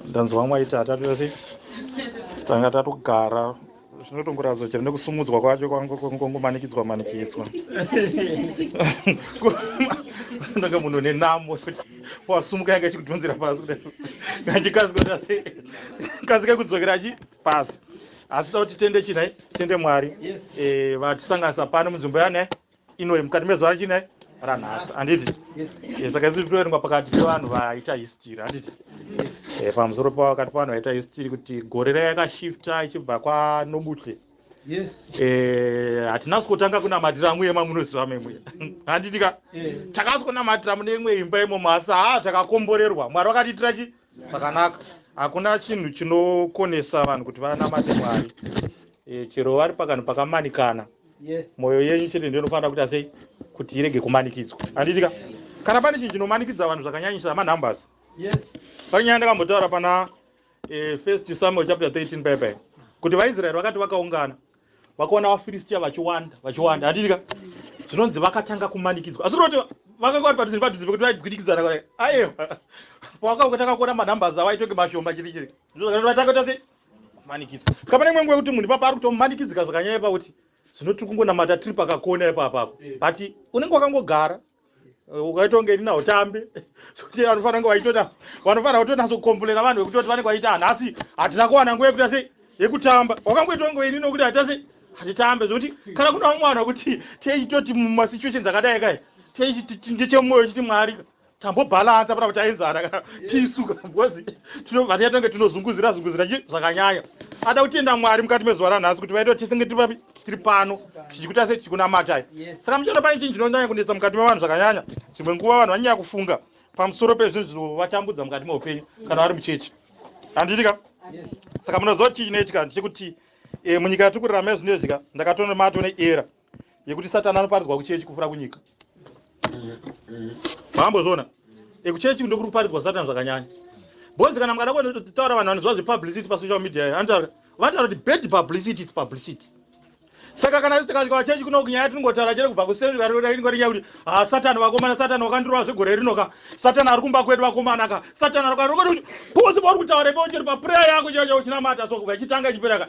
ndanzwa vamwe vaiti hatatu yose tanga tatogara zvinotongoratidza chero nekusumudzwa kwacho kwangongomanikidzwa manikidzwa ndanga munhu nenamo wasumuka yanga ichikudhonzera pasi kachikasika kudzokera achi pasi asi tauti tende chinai tende mwari eh, vatisanganisa pano munzvimbo yanai inoyi mukati mezuva rechine ranhasi handiti eh, saka isu titoerengwa pakati pevanhu vaita histiri handiti eh, pamusoro pakati pavanhu vaita histiri kuti gore raya yakashifta ichibva kwanobutle eh, hatina sikotanga kunamatira mwe mamunoziva memwe handiti ka takasikonamatira mune imwe imba imomo asi haa takakomborerwa mwari vakatiitira chi zvakanaka hakuna chinhu chinokonesa vanhu kuti vanamate mwari e, chero vari pakanhu pakamanikana yes. mwoyo yenyu chete ndiyo inofanira kuita sei kuti irege kumanikidzwa handitika kana pane chinhu chinomanikidza vanhu zvakanyanyisa manumbers yes. pane nyaya ndakambotaura pana e, first samuel chapter 13 paipai kuti vaisraeri vakati vakaungana vakaona vafiristia vachiwanda vachiwanda handitika zvinonzi vakatanga kumanikidzwa asi kuti vakanga vari padhuze padhuze pekuti vaigwidikidzana kare aiwa pavakatanga kuona manumbers avo aitonge mashoma chiri chiri ndozvakati vatanga kuti asi manikidzwa ska pane imwe nguva yekuti munhu ipapa ari kutomanikidzika zvakanyaya pakuti zvino tiri kungonamata tiri pakakona ipapa apo but unenge wakangogara eh, ukaitonge ini nautambe sokuti vanofanira kunge vaitona vanofanira kutonatsokomplena vanhu vekuti voti vanenge vaita nhasi hatina kuwana nguva yekuita sei yekutamba wakangoitonge ini nokuti haita sei hatitambe zvokuti kana kuna vamwe vanhu vekuti tiechitoti mumasituations akadai kai tiechiti ndechemwoyo chiti mwarika tambobalansa pana kuti aenzana kana tisu because vatiya tange tinozunguzira zunguzira chi zvakanyanya ada kutenda mwari mukati mezuva ranhasi kuti vaita kuti tisenge tiripapi tiri pano tichikuita sei tichikunamatai saka muchana pane chinhu chinonyanya kunetsa mukati mevanhu zvakanyanya dzimwe nguva vanhu vanyanya kufunga pamusoro pezvinhu zvinovatambudza mukati meupenyu kana vari muchechi handitika saka munoziva chii chinoitika ndichekuti eh, munyika yatiri kurarama yezvino izvika ndakatonomatone era yekuti satani anoparidzwa kuchechi kupfuura kunyika maambozviona ekuchechi kundo kuri kuparidzwa satani zvakanyanya bonzi kana mukada kutotaura vanhu vanoziva zvepublicity pasocial media anotaura vanotaura kuti bad publicity its publicity saka kana tisikasvika vachechi kuno kunyaya tinongotaura chete kubva kuseaingorinyaa kuti ha ah, satani vakomana satani wakandirova zvegore rino ka satani ari kumba kwedu vakomana ka satani ari kuati posi pauri kutaura ipo chiri paprayer yako chaicho uchinamata so kubva ichitanga ichipera ka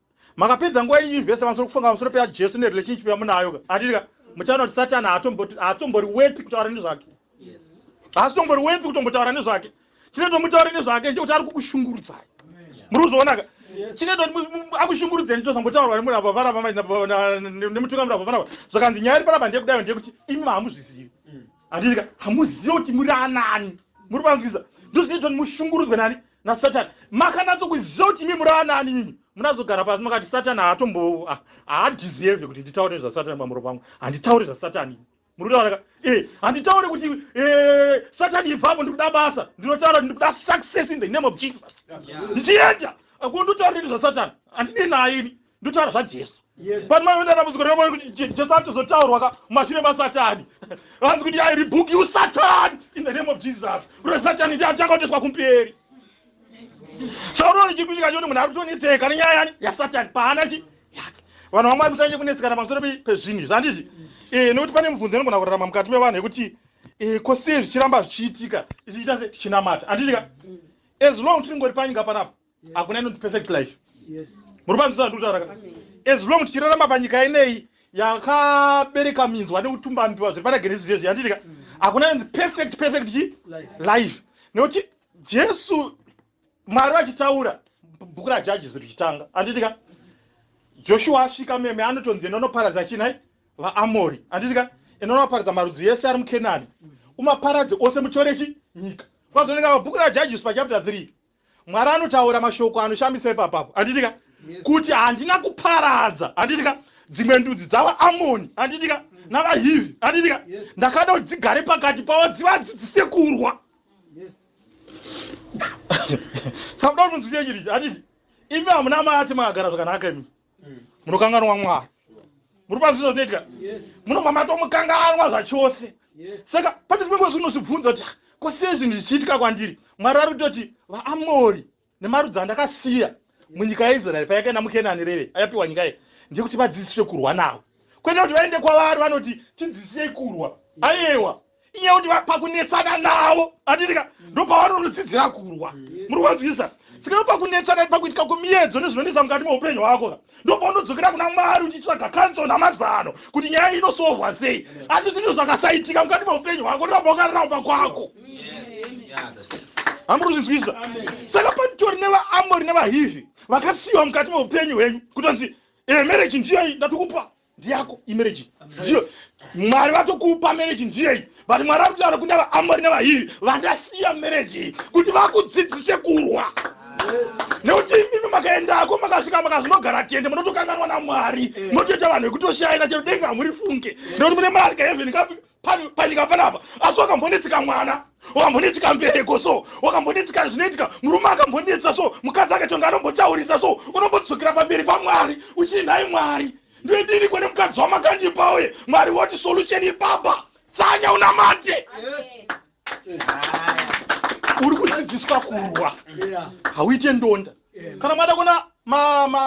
Makapedza nguva yenyu yunivhesiti pamusoro kufunga pamusoro peyaJesu nerelationship yamunayo ka. Handiti ka? Muchaona kuti Satani haatomboti haatombori worth kutaura nezvake. Haatombori worth kutombotaura nezvake. Chinoita kuti mutaure nezvake ndechekuti ari kukushungurudzai. Muri kuzviona ka? Chinoita kuti mu- mu- akushungurudzei ndicho zvambotaurwa nemurava varava mai- na- na- na- nemutungamiri wabva vanava. Zvakanzi nyaya iri panapa ndeyekudayo ndeyekuti imi haamuzvizivi. handiti ka hamuzive kuti muri anani muri vangiza ndozvinoitwa kuti mushungurudzwe nani nasatani makanatso kuziva kuti imi muri anani mimi munazogara pasi makati satani haatombo ah, haadhizieve kuti nditaure zvasatani pamuro pangu handitaure zvasatani murikutoonaka e eh, handitaure kuti eh, satani ibvapo ndikuda basa ndinotaura kuti ndikuda success in the name of jesus ndichienda akundotauriri zvasatani handine naye ini ndotaura zvajesu vanhu vaive nedambudziko revaone kuti jesu atozotaurwa ka mumashure masatani vanzi kuti i rebook you satan in the name of jesus ure satani ndi atakaoteswa kumberi saurono chiri kuitika choti munhu ari kutonetseka nenyaya yani yasatani paana chi yake vanhu vamwari musanyanye kunetsekana pamusoro pezvinhu izvi handizvi eh, nekuti pane mubvunzo inogona kurarama mukati mevanhu yekuti eh, ko sei zvichiramba zvichiitika ichiita se tichinamata handizvika mm. as long tiringori panyika panapa hakuna inonzi perfect life muri panzvisa ndikutauraka as long tichirarama panyika ineyi yakabereka minzwa nekutumba mbiwa zviri pana genesis zvezvi yanditika mm. hakuna inonzi perfect perfect chi life nekuti jesu mwari vachitaura bhuku rajajisi richitanga anditika joshua asvika meme anotonzi inonoparadza chinai vaamori anditika inonoparadza marudzi yese ari mukenani umaparadze ose mutorechi nyika kwazooneka pabhuku rajajisi pachapter 3 Mwari anotaura mashoko anoshamisa ipapo apo, handiti ka? Kuti handina kuparadza, handiti ka, dzimwe ndudzi dzavaAmoni, handiti ka, navaHivhi, handiti ka, ndakada kuti dzigare pakati pavo, dzivadzidzise kurwa. Saka kuda kuti munzwisise chiri ichi, handiti imi hamuna mati makagara zvakanaka imi. munokanganwa mwari muri panzi zvinotoitika munobva matomukanganwa zvachose saka pane zvimwe ngozi unozvibvunza kuti ko sei zvinhu zvichiitika kwandiri mwari ari kutoti vaamori nemarudzi andakasiya munyika yaisraeri payakaenda mukenani reve ayapiwa nyika ye ndekuti vadzidziswe kurwa navo kwete kuti vaende kwavari vanoti tidzisiyei kurwa ayewa iye kuti pakunetsana navo atirika mm. ndopavanonosidzira kurwa mm. muri kwanzwisa sika ndopakunetsana pakuitika kumiedzo nezvinonetsa mukati meupenyu hwako ka ndopaunodzokerera kuna mwari uchitsvaga kanso namazano kuti nyaya iyi inosohwa sei asi zvinhu zvakasaitika mukati meupenyu hwako ndoramba wakaramba kwako hamuri kuzvinzwisa saka panitori nevaamori nevahivhi vakasiyiwa mukati meupenyu hwenyu kutonzi eh, mereji ndiyo ndatokupa ndiyako imereji ndiyo mwari vatokupa mereji ndiyeyi but mwari vari kutaura kune vaamori nevahivi vandasiya mereji kuti vakudzidzise kurwa nekuti imimi makaendako makasvika makazvinogara tende munotokanganwa namwari munotoita vanhu vekuti oshaina chero denga hamuri funge nekuti mune marika heveni panyika panapa asi wakambonetseka mwana wakambonetseka mbereko so wakambonetseka zvinoitika murume akambonetsa so mukadzi akatonga anombotaurisa so unombodzokera pamberi pamwari uchii nhai mwari ndoidini kwene mukadzi wamakandipa uye mwari woti solution ipapa tsanya unamate uri kudzidziswa kurwa hauite ndonda kana mada kuna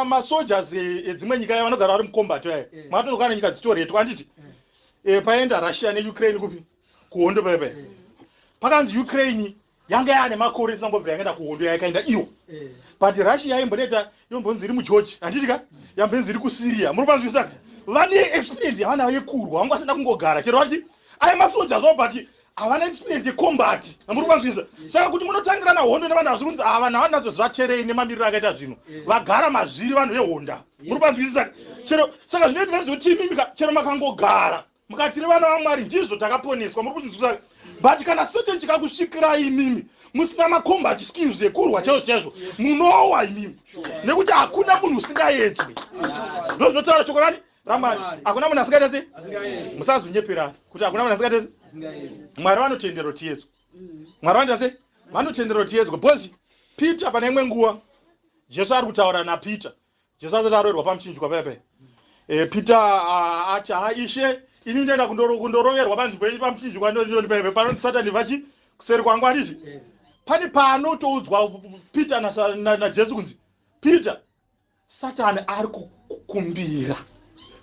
masojas edzimwe nyika ya vanogara vari mucombat yaye mwatonokana nyika dzitoretwa anditi e, paenda russia neukraine kupi kuhondo paya paya pakanzi ukraine yanga yaane makore isina kumbobvira yakaenda kuhondo yayakaenda iyo eh. but russia yaimboneta yombonzi iri mugeorge handiti ka yambonzi iri kusyria muri kuvanzwisaka vane experience yavana yekurwa vanga vasina kungogara chero vati aye masoja zvo but havana experience yecombati amuri kuvazvisa saka kuti munotangirana hondo nevanhu hazviri kunzi ava navanhu nadzo zvacherei nemamiriro akaita zvino vagara mazviri vanhu vehonda muri kuvazwisisa chero saka zvinoiti vaizi kuti imimika chero makangogara mukatiri vana vamwari ndizvo takaponeswa muri kuzvizwisa but kana satan chikakusvikirai imimi musina macombat skills ekurwa chaizvo chaizvo munowa imimi nekuti hakuna munhu usingaedzwe ndozvinotaura chokorani ramwari hakuna munhu asingaita sei musazonyeperana kuti hakuna munhu asingaita sei mwari vanotendero tiyedzwa mm. mwari vanoita sei vanotendero tiyedzwa bcoz peter pane imwe nguva jesu ari kutaura napeter jesu asati aroerwa pamuchinjwa pepe eh, peter ah, ati ha ishe ini ndoenda kundoroverwa panzvimbo yenyu pamuchinjwa ndondipepe panoti satani vachi kuseri kwangu anditi eh. pane paanotoudzwa peter najesu kunzi peter Satan ari kukumbira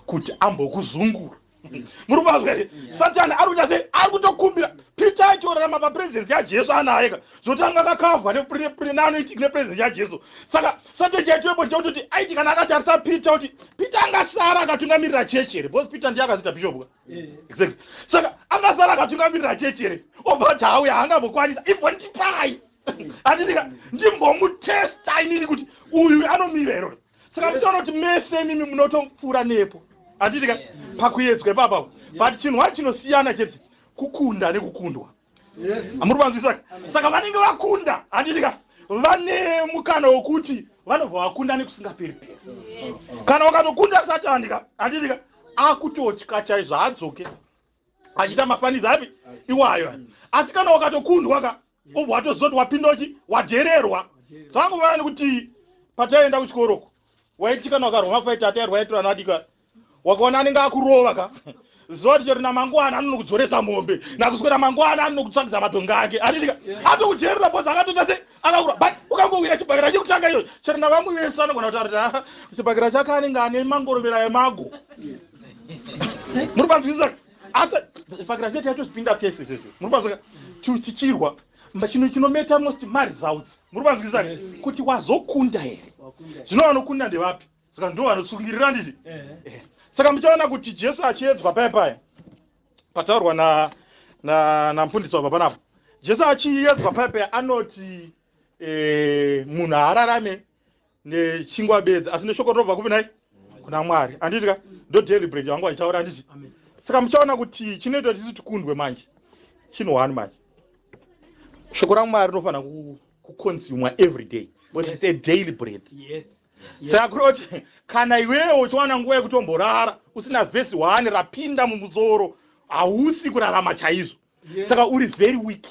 kuti ambokuzungura mm. muri kuvanzwa here mm. satani ari kuita sei ari kutokumbira pita achiorarama papurezidensi yajesu anaye ka zvotanga kakavwa neanoitika nepurezidensi yajesu saka satani chaitoepo chekutoti aiti kana akatarisa pita kuti pita angasara akatungamirira chechi here because pita ndiye akazita bishop ka eh. exactly saka angasara akatungamirira chechi here obva ati hauya haangambokwanisa imbondipai andidika ndimbomutesta inini kuti uyu anomira iro saka mutoona kuti mese imimi munotopfuura nepo andidika pakuyedzwa ipapa but chinhu wacho chinosiyana chete kukunda nekukundwa amuri vanzwisa saka vanenge vakunda andidika vane mukana wokuti vanobva vakunda nekusingaperi peri kana wakatokunda satandika andidika akutotya chaizvo haadzoke achiita mafaniza api iwayo asi kana wakatokundwa ka ubva watozoti wapindochi wadhererwa zvakangovana nekuti pataienda kuchikoroko waiti kana wakarwa mafaiti atairwa yaitira anadika wakaona anenge akurova ka zuva kuti chero namangwana anonokudzoresa mombe nakuswera mangwana anonokutsvagisa matonga ake atiika atokudherera bos akatoita se akakura but ukangowira chibhakira chekutanga iyoyo chero navamwe vese anogona kutaura kuti chibhakira chake anenge ane mangorovera emago muri panzwisisa asi fakira chete yatozvipinda tese tese muri panzwisisa chichirwa chino chinometa most maresults muri panzwisisa kuti wazokunda here zvino vanokunda ndevapi saka ndo vanotsungirira nditi eh. eh. saka muchaona kuti jesu achiedzwa paya paya pataurwa namfundisi wabva panapo jesu achiedzwa paya paya anoti eh, munhu haararame nechingwa bedzi asi neshoko rinobva kupi nai kuna mwari anditi ka ndo daily bread yangu aitaura anditi saka muchaona kuti chinoitwa tisi tikundwe manje chinhu one manje shoko ramwari rinofanira kuconsumwa every day but it's a daily bread yes sakuroti kana iwewo uchiwana nguva yekutomborara usina vhesi one rapinda mumusoro hausi kurarama chaizvo saka uri very weak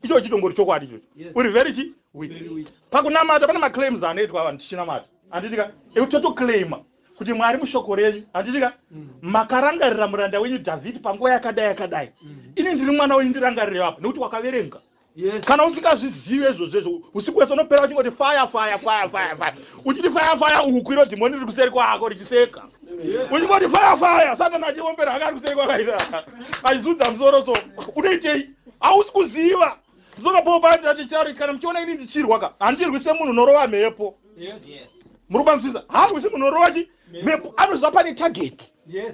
icho chitongori chokwadi ichocho uri very chi weak pakunamata pane maclaims anoitwa vanhu tichinamata handitika ekuti totoclaima kuti mwari mushoko renyu handitika mm. makarangarira muranda wenyu dhavhidhi panguva yakadai yakadai mm. ini ndiri mwana wenyu ndirangarire vapa nekuti wakaverenga Yes. kana usingazvizive izvozvo izvo usiku wese unopera uchingoti faya faya faya faya faya uchiti faya faya uku iro dhimoni riri kuseri kwako richiseka Yes. uchingoti faya faya satani achiombera anga ari kuseri kwakaita achizudza musoro so unoitei hausi kuziva ndinoka paul paati ati chari kana muchiona ini ndichirwa ka handirwi semunhu unorova mhepo Yes. Yes. muri kubanzwisa handirwi semunhu unorova chi mhepo anoziva pane target Yes.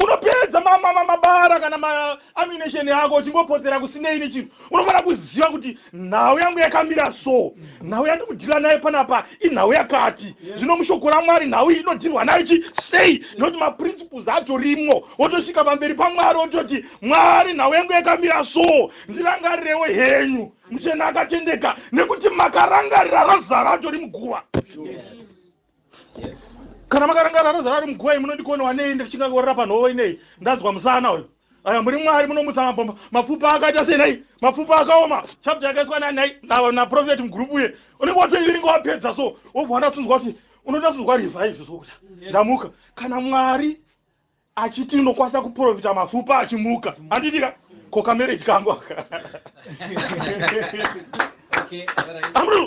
unopedza mabara kana maamination yako uchingopotsera kusinei nechinhu unofanira kuziva kuti nhau yangu yakamira so nhau yandikudhila nayo panapa inhau yakati zvino mushoko ramwari nhau iyi inodhirwa nayo chi sei nekuti maprinciples atorimwo wotosvika pamberi pamwari wototi mwari nhau yangu yakamira so ndirangarirewo henyu muchena akatendeka nekuti makarangarira razara atori muguva yes. kana makarangarira roza rari muguva iyi munondigono wanei ndichingangorira panhovo inei ndanzwa musana uyu aya muri mwari munomutsa mabhomba mapfupa akaita sei nhai mapfupa akaoma chapta yakaiswa nani nhai naprofeti mugrupu uye unenge watoiviringa wapedza so wobva wandatunzwa kuti unoda tunzwa revive zvokuta ndamuka kana mwari achiti unokwanisa kuprofita mapfupa achimuka handiti ka ko kamereji kangu aka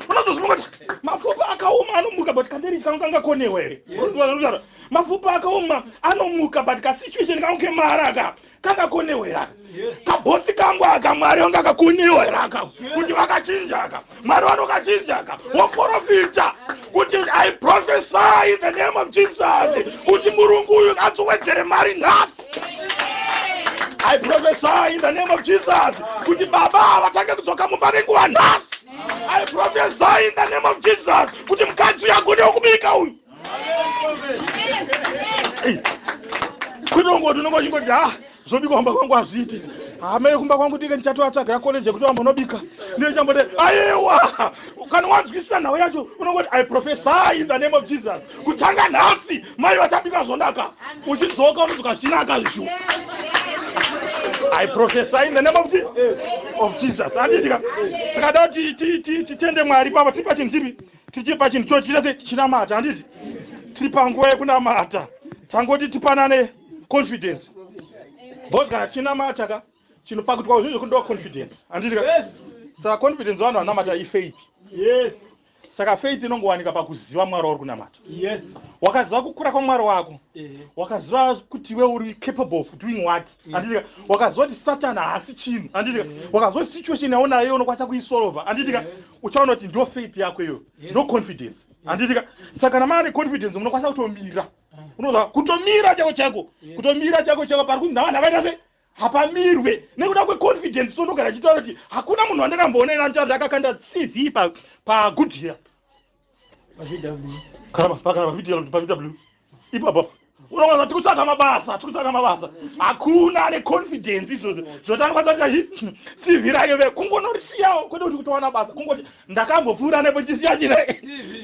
unotozvibonga kuti mapfupa akaoma anomuka but kamereji kangu kangakonewa here mapfupa akaoma anomuka but kasituation kangu kemara aka kangakonewa here aka kabhosi kangu aka mwari wanga kakuniwa here aka kuti vakachinja aka mwari vanokachinja aka woprofita kuti i prophesy in the name of jesus kuti murungu uyu adzowedzere mari nhasi i prophesy in the name of jesus kuti baba havatange kudzoka mumba nenguva nhasi i prophesy in the name of jesus kuti mukadzi uyu agone wokubika uyu kunongoti unonga uchingoti ha zvobikwa kumba kwangu hazviiti hama yekumba kwangu tike ndichatoatsvagira koleji yekuti vambonobika ndichambote ayewa kana wanzwisisa nhau yacho unongoti i profesa in the name of jesus kutanga nhasi mai vachabika zvonaka uchidzoka unodzoka zvichinaka zvishu i profesa in the name of jesus of jesus anditika saka da kuti titende mwari papa tiri pachinhu chipi tichiri pachinhu cho tirese tichinamata handiti tiri panguva yekunamata tangoti tipanane confidence bcause kana tichinamata ka chinopakutwa kuzvinhu zvekundiwa confidence handiti ka saka confidence vanhu vanamata ifaith yes saka faith inongowanika pakuziva mwari wauri kunamata yes wakaziva kukura kwamwari wako wakaziva kuti iwe uri capable of doing what anditika wakaziva kuti satani haasi chinhu anditika wakaziva kuti situation yaona iyo unokwanisa kuisolva anditika uchaona kuti ndo faith yako iyo no confidence anditika saka kana maane confidence munokwanisa kutomira unoza kutomira chako chako kutomira chako chako pari kunzi navanhu avaita sei hapamirwe nekuda kweconfidence sonogara chitaura kuti hakuna munhu wandakamboona ina anotaura kuti akakanda cv pagoodyear karama pakarama kuitira kuti pavw ipapo unoona tikutsvaga mabasa tikutsvaga mabasa hakuna ane confidence izvozvo zvotanga kwataita chi cv rayo ve kungonorisiyawo kwete kuti kutowana basa kungoti ndakambopfuura nepo chisiya chine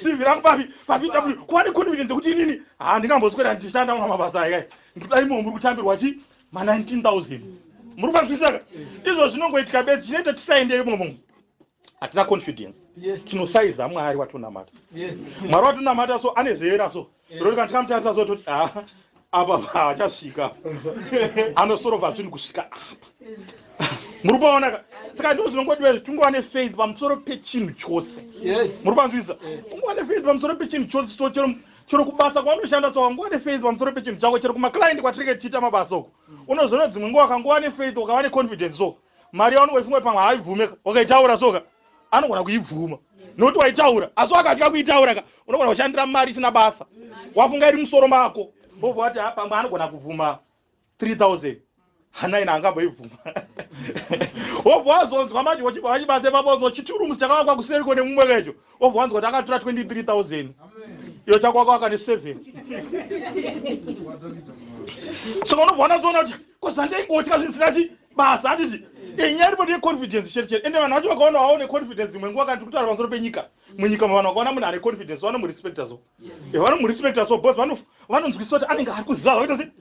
cv rangu papi pavw kuva neconfidence yekuti inini ha ndingamboswera ndichishanda mwa mabasa aika ndikuda imomo muri kutambirwa chi ma 19000 muri kufanzwisaka izvo zvinongoitika bedzi chinoita tisaendeyo momo hatina confidence tinosaiza mwari watonamata mwari watonamata so ane zera so roti kana tikamutarisa so toti a ah, apa haachasvika anosorova zvinhu kusvika apa muri kuonaka saka ndo zvinongodiwa izvi tingova nefaith pamusoro pechinhu chose muri panzwisa ungova nefaith pamusoro pechinhu chose so chero chero kubasa kwaunoshanda so wangova nefaith pamusoro pechinhu chako chero kumaclient kwatinenge tichiita mabasa uku unozoona dzimwe nguva wakangova nefaith ukava neconfidence so mari yaunenge uchifunga pamwe haibvume ka wakaitaura so ka anogona kuibvuma nokuti waitaura asi wakatya kuitaura ka unogona kushandira mari isina basa wafunga iri musoro mako bobva wati ah, pamwe anogona kubvuma 3000 hanaina angamboibvuma wobva wazonzwa manje wachibva vachibasa ipapo wazonzwa chiturumusi chakavakwa kuseriko nemumwe kecho wobva wanzwa kuti akatura 23000 iyo chakwaka waka ne7 saka unobva wanazoona kuti kozandeingotya zvinhu zvisina chii basa handiti inyaya iripoti yeconfidence chete chete ende vanhu vacho vakaona wawo neconfidence dzimwe nguva kana tikutaura pamusoro penyika munyika mavanhu vakaona munhu ane confidence vanomurespecta so eh, vanomurespecta so bcause vanonzwisisa kuti anenge ari kuziva zvakuita se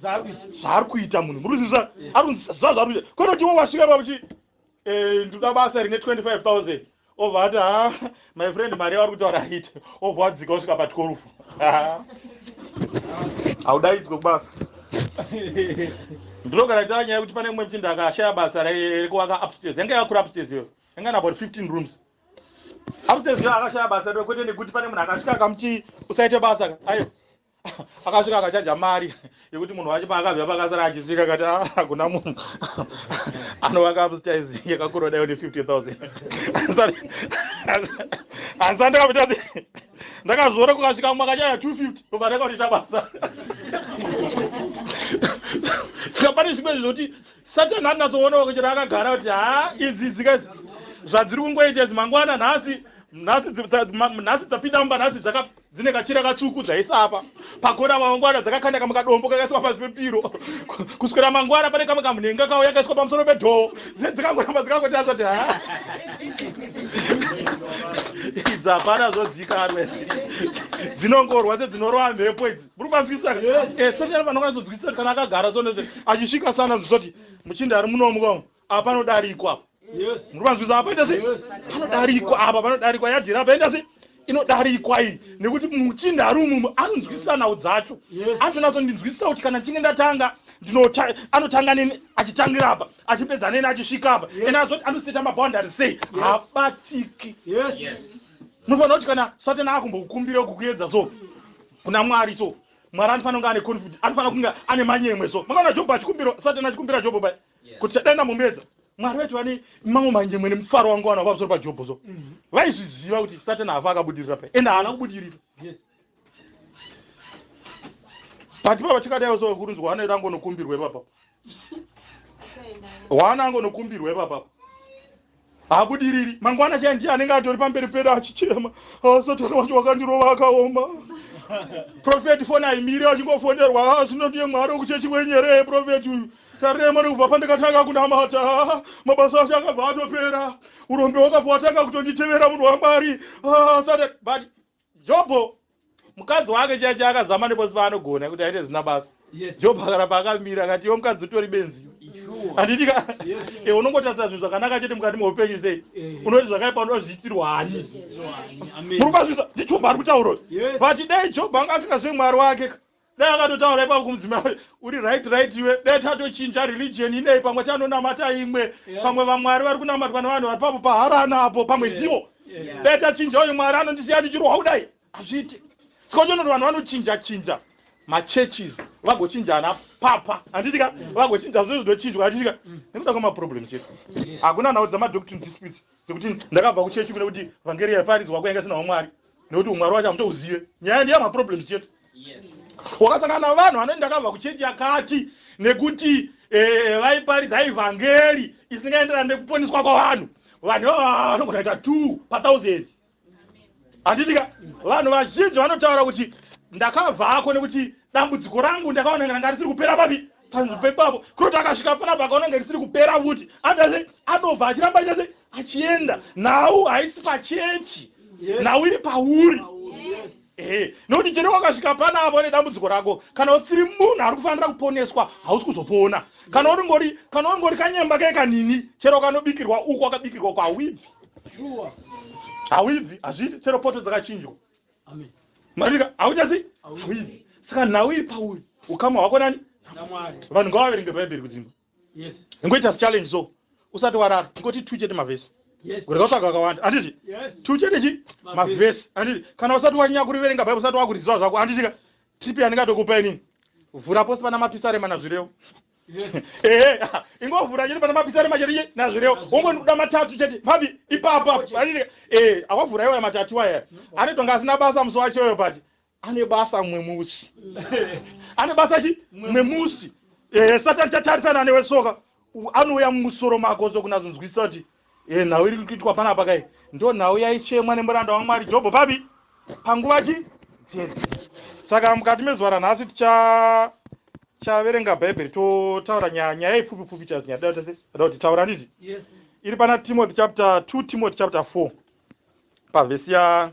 zvaari kuita munhu muri kuzivisa ari kunzwisisa zvaari kuita kwete kuti iwo wasvika pakuti eh, ndoda basa rine 25 000 obva ati ha my friend mari yavari kutaura hit obva wadzika usvika pa 12 haudaidzwe kubasa ndinogara itaura nyaya yekuti pane mumwe mchinda akashaya basa rekuvaka upstairs yanga yakura upstairs iyoyo yanga ina about 15 rooms upstairs iyoyo akashaya basa kwete nekuti pane munhu akasvika akamuti usaite basa ayo akasvika akachaja mari yekuti munhu wacho paakabva pakasara achisika kati ah, hakuna munhu anovaka upstairs yakakura dayo ne 50000 hansa ndakamuita se ndakazviona kukasvika mumwe akachaya 250 obva ndakaonita basa saka pane zvimwe zvokuti satani anatsoonao kuchera akagara kuti ha idzi dzika zvadziri kungoita idzi mangwana nhasi nhasi dzapinda mumba nhasi dzaka dzine kachira katsvuku zvaisa apa pagona mangwana dzakakanda kamwe kadombo kakaiswa pasi pepiro kuswera mangwana pane kamwe kamnhenga kawo yakaiswa pamusoro pedhoo dzine dzikangoramba dzikangoti asati ha idzi hapana zvozikanwe dzinongorwa sedzinorova mhepo idzi muri kwanzwisisa eh, seshaa vanokwanisa kunzwisisa kuti kana akagara so achisvika sana zvisoti muchinda ari munomuka apa panodarikwa apa muri vanzwisa apa paita sei panodarikwa apa panodarikwa yadhira apa enda sei inodarikwa iyi nekuti muchinda ari umwe umwe anonzwisisa nhau dzacho anotonatsondinzwisisa kuti kana ndichinge ndatanga anotanga neni achitangira apa achipedza neni achisvika apa and azoti anoseta maboundary sei habatiki munofanira kuti kana satan akumbokukumbira kukuedza so kuna mwari so mwari anofanira kunge ane confidence anofanira kunge ane manyemwe so makaona jobho achikumbira satan achikumbira jobho bai kuti chadai ndambomuedza mwari vaiti vane mamwe manjemwe nemufaro wangu vana vamusoro pajobho so mhm. vaizviziva kuti satani hava akabudirira pai ende haana kubudirira but pava chikadaiwo so kurunzwa hana iri angonokumbirwa ipapa hwana angonokumbirwa ipapa haabudiriri mangwana chaya ndiye anenge atori pamberi pedu achichema ah, satani wacho wakandirova akaoma profeti foni aimiri achingofonerwa ah, zvino ndiye mwari wekuchechi wenyeree profeti uyu tarema nekubva pandakatanga kunamata ah, mabasa acho akabva atopera urombe wakabva watanga kutonditevera munhu wamwari sat but Jobho mukadzi wake chaiye chaakazama nepose paanogona kuti aite zvisina basa. Jobho akarapa akamira akati iwo mukadzi utori benzi. Handiti ka eh, unongotarisa zvinhu zvakanaka chete mukati meupenyu sei eh. unoti zvakaipa unoda kuzviitirwa hani muri kubazvisa ndiJobho ari kutaura uyu but dai Jobho anga asingazve mwari wake ka dai akatotaura ipapo kumudzimai uri right right iwe dai tatochinja religion inei pamwe tanonamata imwe yeah. pamwe vamwari vari kunamatwa nevanhu vari papo paharana apo pamwe yeah. ndivo yeah. dai tachinja uyu mwari anondisiya ndichirohwa kudai hazviite sikochonoti vanhu vanochinja chinja machurches vagochinjana papa handitika vagochinja zvo zvinochinjwa handitika mm. nekuda kwemaproblems chete hakuna nhau dzamadoctrine disputes nekuti ndakabva kuchechi kune kuti vhangeri yaiparidzwa kwayanga isina umwari nekuti umwari wacho hamutouzive nyaya ndiya maproblems chete wakasangana na vanhu vanoti ndakabva kuchechi yakati nekuti eh, vaiparidza ivhangeri isingaenderani nekuponiswa kwavanhu vanhu ivava vanogona ita two pathousand handiti ka vanhu vazhinji vanotaura kuti ndakabvako nekuti dambudziko rangu ndakaona nganga risiri kupera papi panzvimbo pepapo kuti akasvika panapa akaona nga risiri kupera futi andase anobva achiramba aita se achienda nhau haisi pachechi nhau iri pauri Ehe, nokuti chero wakasvika pana avo nedambudziko rako, kana usiri munhu ari kufanira kuponeswa, hausi kuzopona. Kana uringori, kana uringori kanyemba kee kanini, chero kanobikirwa uko wakabikirwa uko, hauibvi. Shuwa. Hauibvi, hazvidi, chero poto dzakachinjwa. Amen. Marika, hauchasi, Hauibvi. hauibvi. Saka nhau iri pauri, ukama hwako nani? NaMwari. Vanhu ngavaverenge Bhaibheri kudzimba. yes ngoita challenge so usati warara ngoti two chete mavhesi kurega kutsvaga kakawanda handiti two chete chi mavhesi handiti kana usati wanyanya kuriverenga bhaibheri usati wakuriziva zvako handitika tipi yandingatokupa inini vhura pose pana mapisarema nazvirewo ehe ingovhura chete pana mapisarema chete che nazvirewo wongoda matatu chete papi ipapo apo handitika ee awavhura iwaya matatu iwaya anoitwa nga asina basa musi wacho uyo pati ane basa mumwe musi ane basa chi mumwe musi ehe satani chatarisana newe soka anouya mumusoro mako sokunazonzwisisa kuti e nhau iri kuitwa panapa kai ndo nhau yaichemwa nemuranda wamwari jobho papi panguva chi dzedzi saka mukati mezuva ranhasi ticha chaverenga bhaibheri totaura nyaya nyaya ipfupi pfupi chazo nyaya dai tese ada kuti taura nditi yes. iri pana timothy chapter 2 timothy chapter 4 pavhesi ya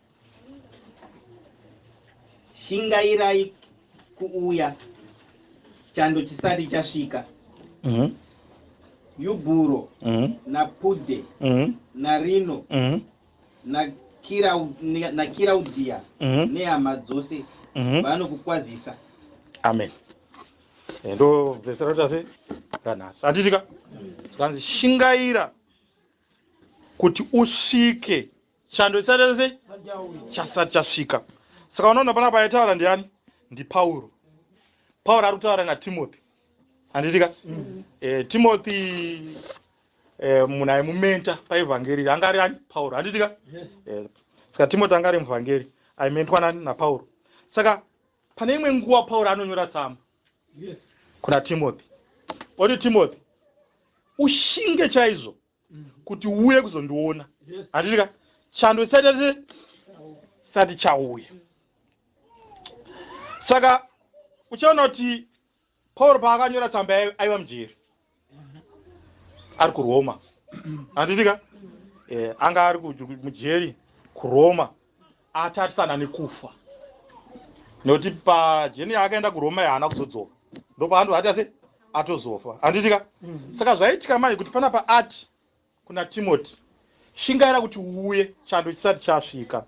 shingairai kuuya chando chisati chasvika Mhm. yubhuro Mhm. napude Mhm. narino Mhm. nakirau- ne- nakiraudhiya Mhm. nehama dzose Mhm. vanokukwazisa amen Eh, ndo vhesi ratoita sei ranhasi hatitika zvikanzi shingaira kuti usvike chando chisati sei chasati chasvika saka unoona pana pa aitaura ndiani ndipauro pauro ari kutaura natimothy handitika mm. e, eh, timothy e, eh, munhu aimumenta paevhangeri anga ari ani pauro handitika yes. e, saka timothy anga ari muvhangeri aimentwa nani napauro saka pane imwe nguva pauro anonyora tsamba yes. kuna timothy oti timothy ushinge chaizvo mm. kuti uuye kuzondiona handitika chando chisati asi sati chauya saka uchaona kuti pauro paakanyora tsamba aiva mujeri ari kuroma handitika eh, anga ari mujeri kuroma atarisana nekufa nokuti pajeni yaakaenda kuroma yaana kuzodzoka ndopaandu ati ase atozofa handitika mm. saka zvaitika manje kuti panapa ati kuna timoti shingaira kuti uuye chando chisati chasvika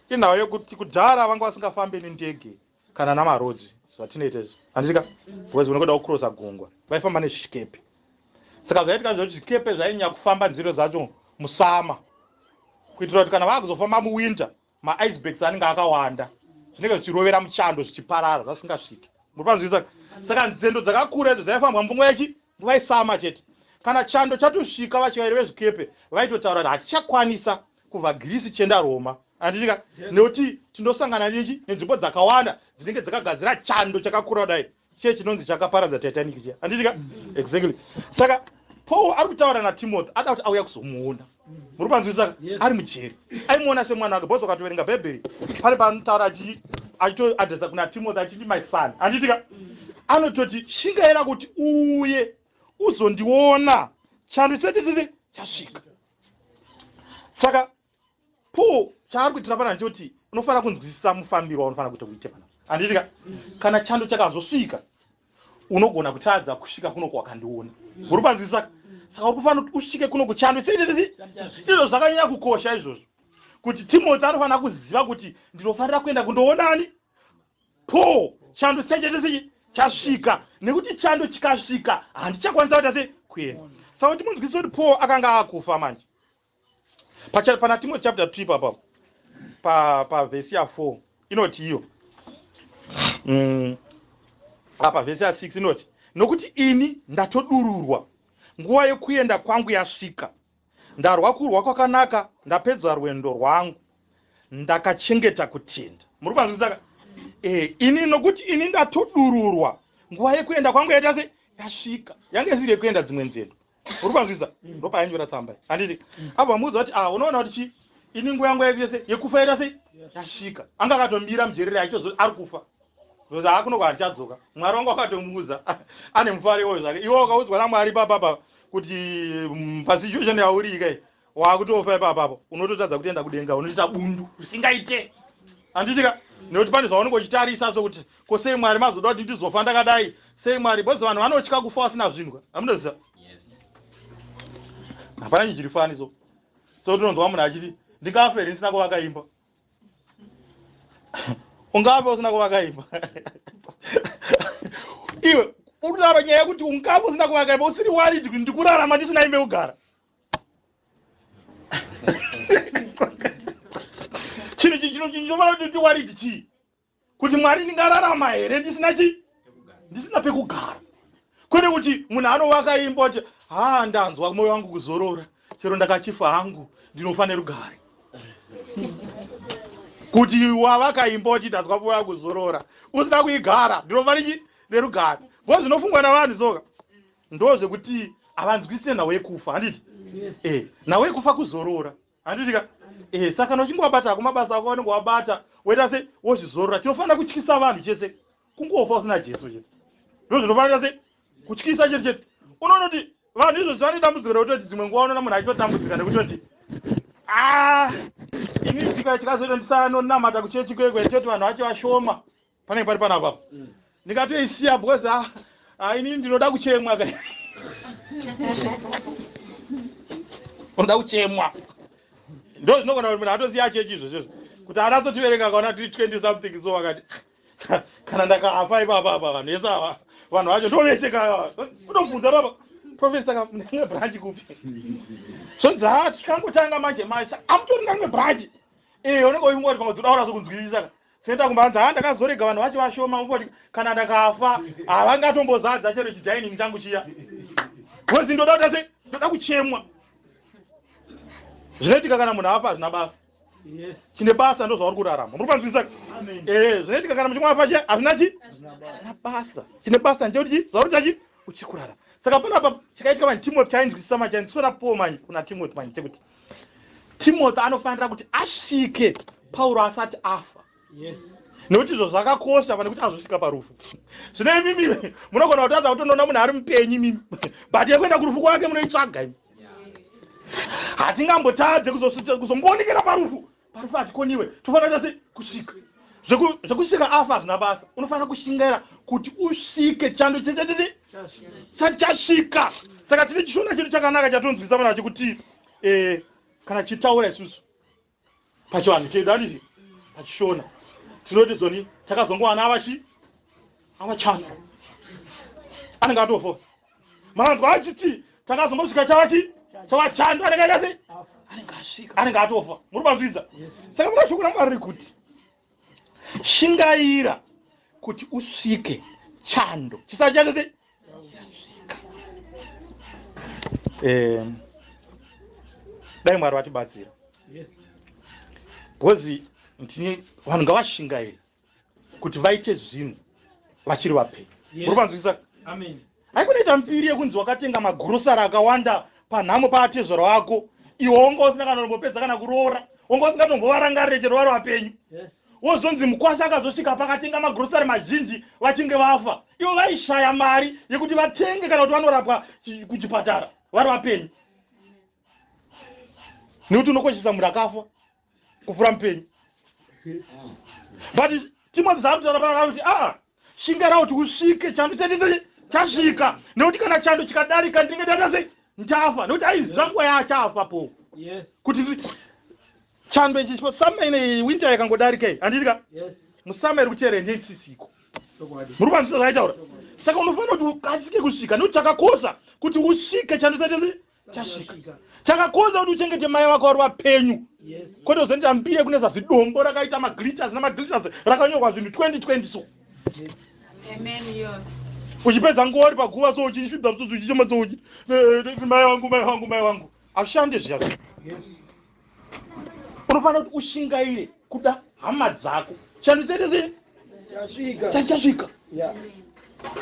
inhau yekuti kudhara vanga vasingafambe nendege kana namarodzi zvatinoita izvi handitika bcause unokuda kucrossa gungwa vaifamba nezvikepe saka zvaitika zvakuti zvikepe zvainyanya kufamba nziro dzacho musama kuitira kuti kana vakuzofamba muwinter maicebaks anenge akawanda zvinenge zvichirovera muchando zvichiparara zvasingasviki muripanzwisaka saka nzendo dzakakura idzo dzaifambwa mbunga yachi Nguva yesama chete. Kana chando chatosvika vatyairi vezvikepe vaitotaura kuti hatichakwanisa kubva Greece tichienda Roma. Handiti ka? Nekuti tinosangana nechi nenzvimbo dzakawanda dzinenge dzakagadzira chando chakakura kudai chiye chinonzi chakaparadza Titanic chiya. Handiti ka? Exactly. Saka Paul ari kutaura naTimothy ada kuti auya kuzomuona. muri panzwisisa ari mujeri aimuona semwana wake bhozi wakatoverenga bhaibheri pane paanotaura achitoadresa kuna timothy achiti my son anditika anototi shingaira kuti uye uzondiona chando chetititi chasvika saka paul chaari kuitira pana ndichoti unofanira kunzwisisa mufambiro waunofanira kuita kuite pana anditika kana chando chakazosvika unogona kutadza kusvika kuno kwakandiona mm. uri panzwi saka mm. saka uri kufanira kuti usvike kuno kuchandwe izvo zvakanyanya kukosha izvozvo kuti timoti anofanira kuziva kuti ndinofanira kuenda kundoonani paul chando sechetesechi chasvika nekuti chando chikasvika handichakwanisa kuita se kuenda saka kuti munzwisisa kuti paul akanga akufa manje Pacha pana Timothy chapter 3 papa pa pa verse ya 4 inoti iyo. Mm. Apa verse ya 6 inoti nokuti ini ndatodururwa nguva yekuenda kwangu yasvika ndarwa kurwa kwakanaka ndapedza rwendo rwangu ndakachengeta kutenda muri kwanzwisaka e, ini nokuti ini ndatodururwa nguva yekuenda kwangu yaita se yasvika yange isiri yekuenda dzimwe nzendo uri kwanzwisa mm. ndopaanyora tsamba iyi handiti mm. apo vamuudza kuti ah unoona kuti chii ini nguva yangu yaita sei yekufa yaita sei yasvika anga akatomira mujerere achitozo ari kufa because haakunoko handichadzoka mwari wangu akatomuudza ane mufaro iwoyo zvake iwe wakaudzwa namwari papapa kuti mm, pasituation yauriika Wakutofa ipa apapo unototadza kutoenda kudenga unoita bundu usingaite handitika nekuti pane zvaunenge uchitarisa so kuti ko sei mwari mazoda kuti ndizofa ndakadai sei mwari bcause vanhu vanotya kufa vasina zvinhu amunoziva hapana chinhu chiri fani so so tinonzwa munhu achiti ndingafe here ndisina kuvaka imba ungafe usina kuvaka imba iwe urikutaura nyaya yekuti ungafe usina kuvaka imba usiri warid kuti ndikurarama ndisina imba yekugara chinhu chii chino chinofanira kuti ndiwariti chii kuti mwari ndingararama here ndisina chii ndisina pekugara kwete kuti munhu anovaka imba kuti haa ndanzwa mwoyo wangu kuzorora chero ndakachifa hangu ndinofanira rugare kuti wavaka imba kuti ndanzwa mwoyo wangu kuzorora usina kuigara ndinofanira chii nerugare bho zvinofungwa navanhu soka ndozvekuti havanzwisise nhau yekufa handiti yes. e, eh, nhau yekufa kuzorora handiti ka e, saka kana uchingowabata hako mabasa ako anenge wabata woita se wozvizorora chinofanira kutyisa vanhu chese kungofa usina jesu chete ndo zvinofanira se kutyisa chete chete unoona kuti vanhu izvozvi vane dambudziko rekutoti dzimwe nguva unoona munhu achitotambudzika nekutoti ah, ini chikazoita ndisanonamata kuchechi kwekwe choti vanhu vacho vashoma panenge pari panapa apa mm. ndikatoisiya because ah, ah, ini ndinoda kuchemwa ka unoda kuchemwa ndo zvinogona kuti munhu atoziva chechi izvo zvizvo kuti ana atotiverenga kaona tiri 20 something so vakati kana ndakafa ipapa apa vanhu vese ava vanhu vacho ndovese ka unobvunza papa profesa ka ndine branch kupi zvonzi ha tikangotanga manje manje amutorina rimwe branch ee eh, unenge uimoti pamwe dzoda ora zvokunzwisisa ka Senta kumba hanzi haa ndakazorega vanhu vacho vashoma umboti kana ndakafa havangatombozadza chero chidining changu chiya bcozi ndoda kuta se ndoda kuchemwa zvinoitika kana munhu afa hazvina basa chine basa ndozvauri kurarama muri kufanzwisisa ee eh, zvinoitika kana muchimwa afa chiya hazvina chi hazvina basa chine basa ndechekuti chi zvauri chachi uchikurarama saka panapa chakaitika mani timothy chainzwisisa mani chainzwisisa na paul mani kuna timothy mani chekuti timothy anofanira kuti asvike pauro asati afa nekuti izvo zvakakosha pane kuti azosvika parufu zvino imimi munogona kutadza kutonoona munhu ari mupenyu imimi but yekuenda kurufu kwake munoitsvaga imi hatingambotadze kuzongoonekera parufu Parufati koniwe tofanira kuita kusvika zvekusvika afa hazvina basa unofanira kushingaira kuti usvike chando chechachii sati chasvika saka tine chishona chedu chakanaka chatonzwisa vana chekuti eh, kana chitaura isusu pachivanhu chedu andizvi pachishona tinoti zoni takazongowana avachi avachando anenge atofo manzwa achiti takazongosvika chava chi chava chando anenge aita sei anenge atofa muri panzwidza saka muna shoko ramwari rekuti shingaira kuti usvike chando chisati chaita sei eh, dai mwari vatibatsira bhozi ndini vanhu ngavashingairi kuti vaite zvinhu vachiri vapenyu muri panzwisisa haikunoita mbiri yekunzi wakatenga magurosari akawanda panhamo paatezvara wako iwe wonga usina kana unombopedza kana kuroora wonga usingatombovarangarire chero vari vapenyu wozonzi mukwasha akazosvika pakatenga magurosari mazhinji vachinge vafa ivo vaishaya mari yekuti vatenge kana kuti vanorapwa kuchipatara vari vapenyu nekuti unokoshesa munhu akafa kupfura mupenyu but timothy zvaanotaura paakati kuti aa ah, shingara kuti usvike chando chandise chasvika nekuti kana chando chikadarika ndinenge ndaita sei ndafa nekuti aiziva nguva yaachafa po kuti chando ichi chipo summer ine winter yakangodarika iyi handiti ka musummer iri kuteera ende isisiko muri kwanzisa zvaitaura saka unofanira kuti ukasike kusvika nekuti chakakosha kuti usvike chando chaita sei chasvika chakakonza kuti uchengete mai vako vari vapenyu kwete uzoenda mbiye kune zazidombo rakaita magliters nemagliters rakanyorwa zvinhu 2020 so uchipedza nguva uri paguva so uchisvibza mutsotsi uchichema so uchi eh, eh, mai wangu mai wangu mai wangu ashande zviya unofanira kuti ushingaire kuda hama dzako chando chaitese chati chasvika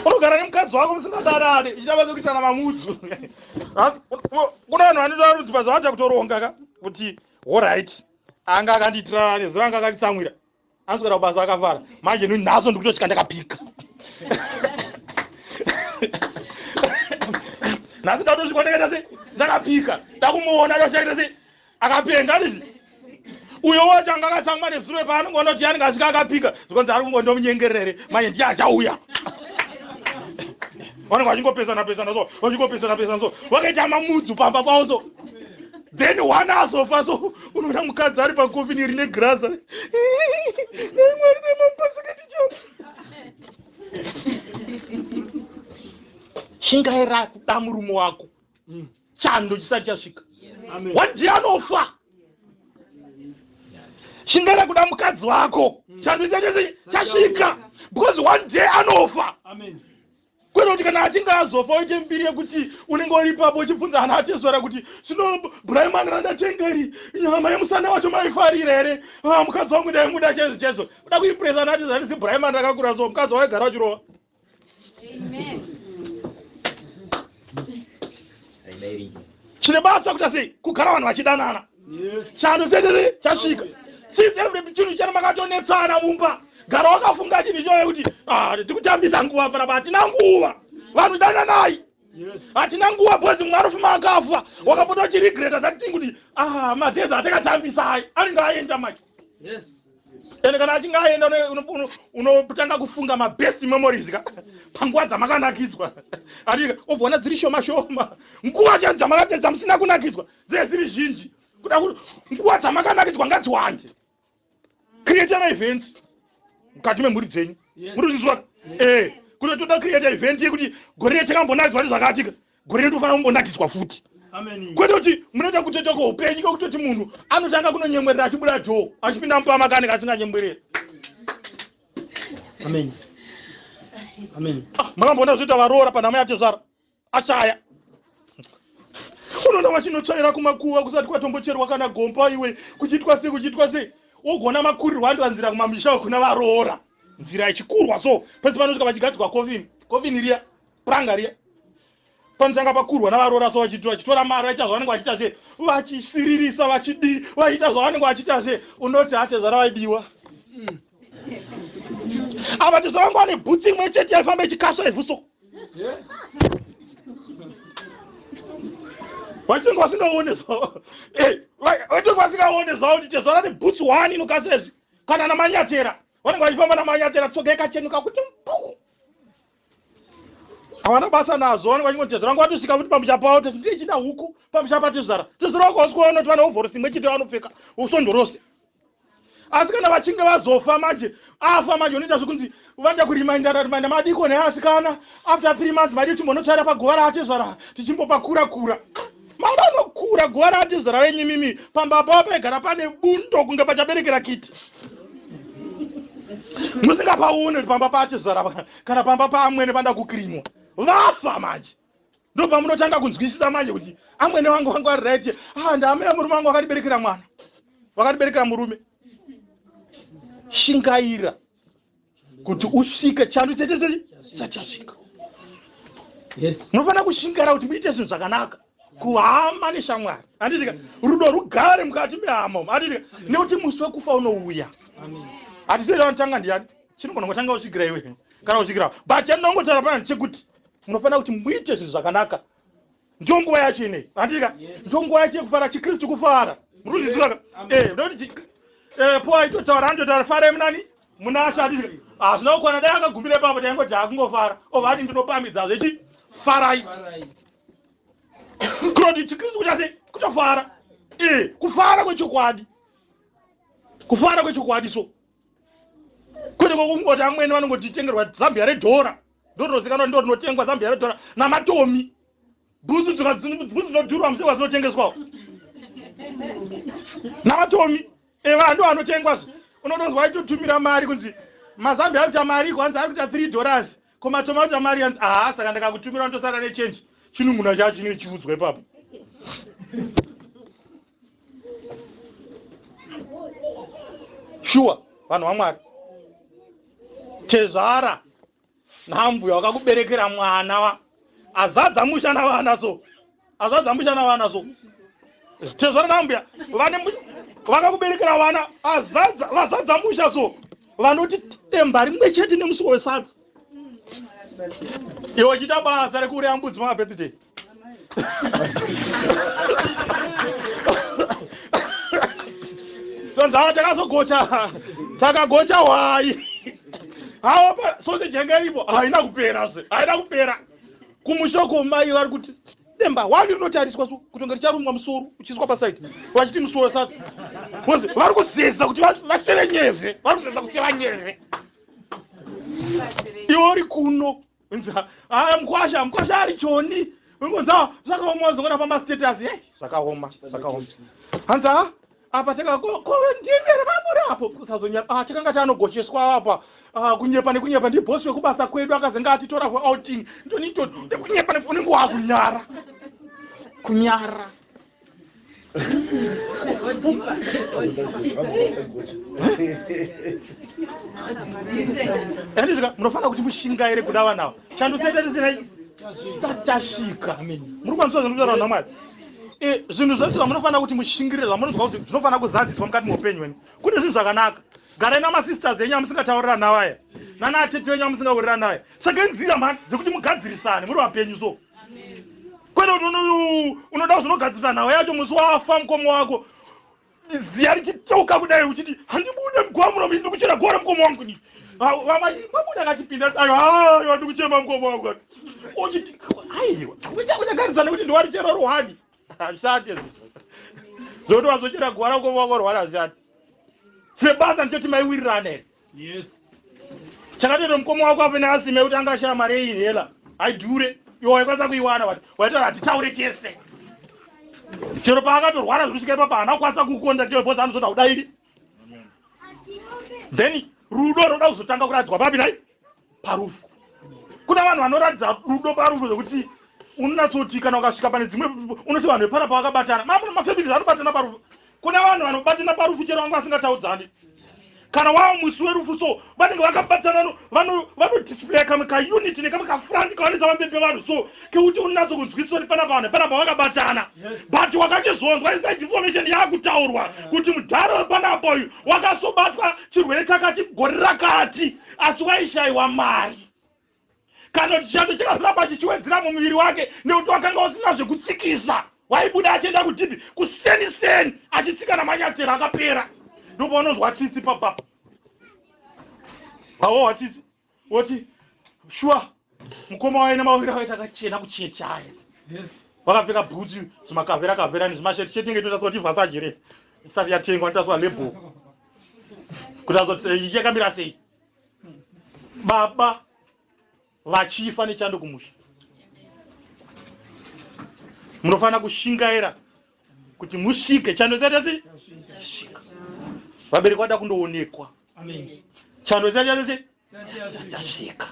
unogara nemukadzi wako musingadanane ichitava sekuitana mamudzu kuna vanhu vanoda rudzipa zvavacha kutoronga ka kuti horit anga akandiitira nezuro anga akanditsamwira anoswera kubasa akafara manje nuni nhasi ndikutosvika ndakapika nhasi ndatosvika ndakaita se ndakapika ndakumuona ndoshaita se akapenga ndizvi uyo wacho anga akatsamwa nezuro paanenge onoti yanenge asvika akapika zvikonzi ari kungondomunyengerere manje ndiye achauya vanenge vachingopesana pesana so vachingopesana pesana so vakaita mamudzu pamba pavo so then one azofa so unoona mukadzi ari pakofini rine graza mwari nemapasakaticho shingaira kuda murume wako mm. chando chisati chasvika wadi anofa shingaira kuda mukadzi wako mm. chando chasvika because one day anofa Amen. kwete kuti kana achinge azofa oite mbiri yekuti unenge uri ipapo uchibvunza ana atezvara kuti zvino bhuraimani randatengeri nyama yemusana wacho maifarira here ah, mukadzi wangu ndaimuda chaizvo chaizvo uda kuimpresa ana atezvara ndisi bhuraimani rakakura so mukadzi waigara uchirova chine basa kuita sei kugara vanhu vachidanana chando chenere chasvika since every chinhu chene makatonetsana mumba gara wakafunga chinhu ichoyo kuti ah, tikutambisa nguva panapa hatina nguva vanhu dananai hatina nguva bcoz mumwe anofuma akafa wakapota uchiregreta that thing kuti ah, mageza atakatambisai anenge aenda maki ende kana achinge aenda unotanga kufunga mabest memories ka panguva dzamakanakidzwa atika obvona dziri shoma shoma nguva chadzo dzamakatedza musina kunakidzwa dzinenge dziri zhinji kuda kuti nguva dzamakanakidzwa ngadziwande create maevents mukati memhuri dzenyu muri kuzvizwa ee eh, kune toda create event yekuti gore rechakambonakidzwa nezvakatika gore rinofanira kumbonakidzwa futi kwete kuti munoita kutoita kweupenyu kwekutoti munhu anotanga kunonyemwerera achibuda dhoo achipinda mupama kane kasinganyemwerera ah, makamboona zvoita varoora panhamo yatezvara achaya unoona vachinotsvaira kumakuva kusati kwatombocherwa kana gomba iwe kuchiitwa sei kuchiitwa sei wogona makurirwa andiwa nzira kumamisha wekuna varoora nzira yechikurwa so pese panosvika vachigadzikwa kovini kovini riya pranga riya panotanga pakurwa navaroora so vachiitwa vachitora mari vachiita zvavanenge vachiita zve vachisiririsa vachidii vachiita zvavanenge vachiita zve unoti hatezvara vaidiwa mm. ava tizoramba ane bhutsi imwe chete yaifamba ichikasva ivhu so vachinge vasingaone zvavo eh, vachinge vasingaone zvavo kuti chezvara ne bhutsi one inokasva izvi kana namanyatera vanenge vachifamba namanyatera tsoga yakachenuka kuti mpuu havana basa nazvo vanenge vachingoteza vanga vatosvika kuti pamusha pavo tesu ndiye chida huku pamusha patezvara tezvara vakawaswa vanoti vane hovhorosi imwe chete vanopfeka usondo rose asi kana vachinge vazofa manje afa manje unoita zvekunzi vanoita kurimainda rarimainda madiko neasikana after three months maidi timbonotsvaira paguva raatezvara tichimbopakurakura mai vanokura guva raatizvara venyu mimi pamba pavo paigara pane bundo kunge pachaberekera kiti musingapaone kuti pamba paatizvara kana pamba paamwene panda kukirimwa vafa manje ndopamunotanga kunzwisisa manje kuti amwene vangu vanga vari right ah, ndaamea murume vangu vakatiberekera mwana vakatiberekera murume shingaira kuti usvike chando chete sei chachasvika munofanira kushingara kuti muite zvinhu zvakanaka kuhama neshamwari anditika rudo rugare mukati mehama umu anditika nekuti musi wekufa unouya hatitoita vanotanga ndiyani chinogona kutanga uchigira iwe kana uchigira but chandinongotaura panani chekuti munofanira kuti muite zvinhu zvakanaka ndiyo nguva yacho inei handika ndiyo nguva yacho yekufara chikristu kufara murikuzvizivaka eh, ndokuti eh, po aitotaura andotaura farai munani munasha handika hazvina ah, kukwana dai akagumbira ipapo taingoti akungofara ova ati ndinopamidza zvechi farai kunoti chikristu kuchase kutofara eh, kufara kwechokwadi kufara kwechokwadi so kwete kwekungoti amwene vanongotitengerwa zambia redhora ndorinozikanwa ndo rinotengwa zambia redhora namatomi bhutsu dzinodhurwa musekwa dzinotengeswawo namatomi eva ndo anotengwa zve unotozwa aitotumira mari kunzi mazambia ari kuita mari iko hanzi ari kuita three dollars ko matoma kuita mari hanzi aha saka ndakakutumira ndosara nechange chinun'una chacho chinenge chiudzwa ipapo shuwa vanhu vamwari tezvara nambuya wakakuberekera mwana wa azadza musha navana so azadza musha navana so tezvara nambuya vane vakakuberekera vana azadza vazadza musha so vanoti temba rimwe chete nemusuwo wesadza iwe uchiita basa rekureya mbudzi mabirthday sonzava takazogocha takagocha hwai haopa soseji yanga iripo haina kupera zve haina kupera kumushoko mai vari kuti demba wani rinotariswa kutonge richarumwa musoro uchiswa pasaidi vachiti musoro sati bcause vari kuzeza kuti vaseve nyeve vari kuzeza kuseva nyeve iwo ri kuno Nza, ah, mkwasha, mkwasha ari choni. Nza, zvakaoma zvongona pamba status. Hey, zvakaoma, zvakaoma. Hanza, apa teka ko ko ndinge ramura apo kusazonya. Ah, teka ngati anogocheswa apa. Ah, kunyepa nekunyepa ndi boss wekubasa kwedu akazenga atitora for outing. Ndonito, nekunyepa nekunyepa kunyara. Kunyara. Andizvika munofanira kuti mushingaire kuda vana ava. Chando chaita tisina chisati chasvika. Muri kwanisa zvinhu zvaro namwari. Eh zvinhu zvese zvamunofanira kuti mushingirire zvamunonzwa kuti zvinofanira kuzadziswa mukati meupenyu wenu. Kune zvinhu zvakanaka. Garai namasisters enyu amusingatauriranavaya. Nana atete venyu amusingauriranaye. Tsvagai nzira mhani dzekuti mugadzirisane muri vapenyu so. kwete kuti unoda kuzonogadzirisa nhau yacho musi wafa mukomo wako ziya richiteuka kudai uchiti handibude mugova muno ndiri kuchera gora mukomo wangu ni vamaimabuda akatipinda ayo ayo ndi kuchema mukomo wangu uchiti aiwa unyagarisana kuti ndiwarichera ruhani hazvishati zoti wazochera gora mukomo wangu ruhani hazvishati sebasa ndichoti maiwirirane yes chakatero mukoma wako apo neasime kuti anga ashaya mari yeinhela haidhure iwo waikwanisa kuiwana wati waitaura hatitaure chese chero paakatorwara zvekusvika ipapa haana kukwanisa kukonda chero bhozi anozoda kudairi then rudo roda kuzotanga kuradzwa papi nai parufu kuna vanhu vanoratidza rudo parufu zvekuti unonatsoti kana ukasvika pane dzimwe unoti vanhu vepana pavakabatana mamwe mafamilies anobatana parufu kuna vanhu vanobatana parufu chero vanga vasingataudzani kana wava musi werufu so vanenge vakabatana vanodisplaya kamwe kaunity nekamwe kafrandi kavanoita pamberi pevanhu so kekuti unatso kunzwisisa kuti panapa vanhu panapa vakabatana but wakachizonzwa inside information yaakutaurwa kuti mudhara wepanapa uyu wakasobatwa chirwere chakati gore rakati asi waishaiwa mari kana kuti chando chakazoramba chichiwedzera mumuviri wake nekuti wakanga usina zvekutsikisa waibuda achienda kudhibhi kuseni seni achitsika namanyatsero akapera ndopaunozwa tsitsi papapa awowa tsitsi woti shuwa mukoma waye nemawere awaita akachena kuchechaya vakapfeka bhutsu zvimakavera kavera nezvimasheti sheti inge itotaswa kuti vhasaji re isati yatengwa inotaswa label kutaswa kuti eh, yakamira sei baba vachifa nechando kumusha munofanira kushingaira kuti musvike chando chatasi vabereki vada kundoonekwa chando chatasi Sati dzasvika.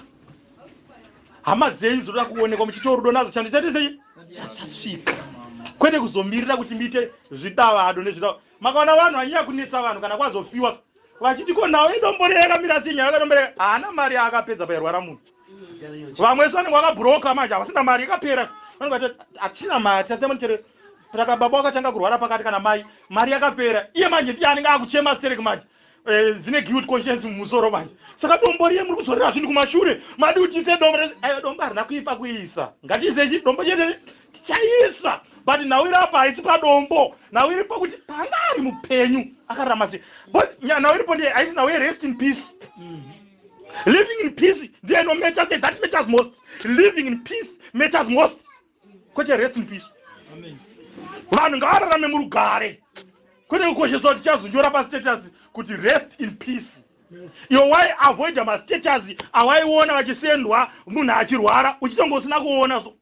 Hama dzenyu dzinoda kuonekwa muchiita rudo nadzo chando chati sei? Dzasvika. Kwete kuzomirira kuti muite zvidavado nezvidavado. Makaona vanhu vanyanya kunetsa vanhu kana kwazofiwa vachiti ko nhau idombo rei yakamira sei nyaya yakadombo rei haana mari yaakapedza pairwara munhu. Vamwe vese vanenge vakabroka manje havasina mari ikapera. Vanenge vati hatisina mari tasema nichere saka baba wakatanga kurwara pakati kana mai mari yakapera iye manje ndiye anenge akuchema stereki manje Eh, dzine guilt conscience mumusoro manje saka dombo riye muri kudzorera zvinhu kumashure madi kuti tiise dombo rese ayo dombo harina kuipa kuisa ngatiise chi- dombo chese tichaisa but nhau iri apa haisi padombo nhau iri pakuti paanga ari mupenyu akararama sei bcause nya- nhau iripo ndiye haisi nhau yerest in peace living in peace ndiye inomatter sei that matters most living in peace matters most kwete rest in peace vanhu ngavararame murugare kwete kukoshesa kuti chazonyora pastatus kuti rest in peace iwo wai avoida mastatus awaiona vachisendwa munhu achirwara uchitonge usina kuona so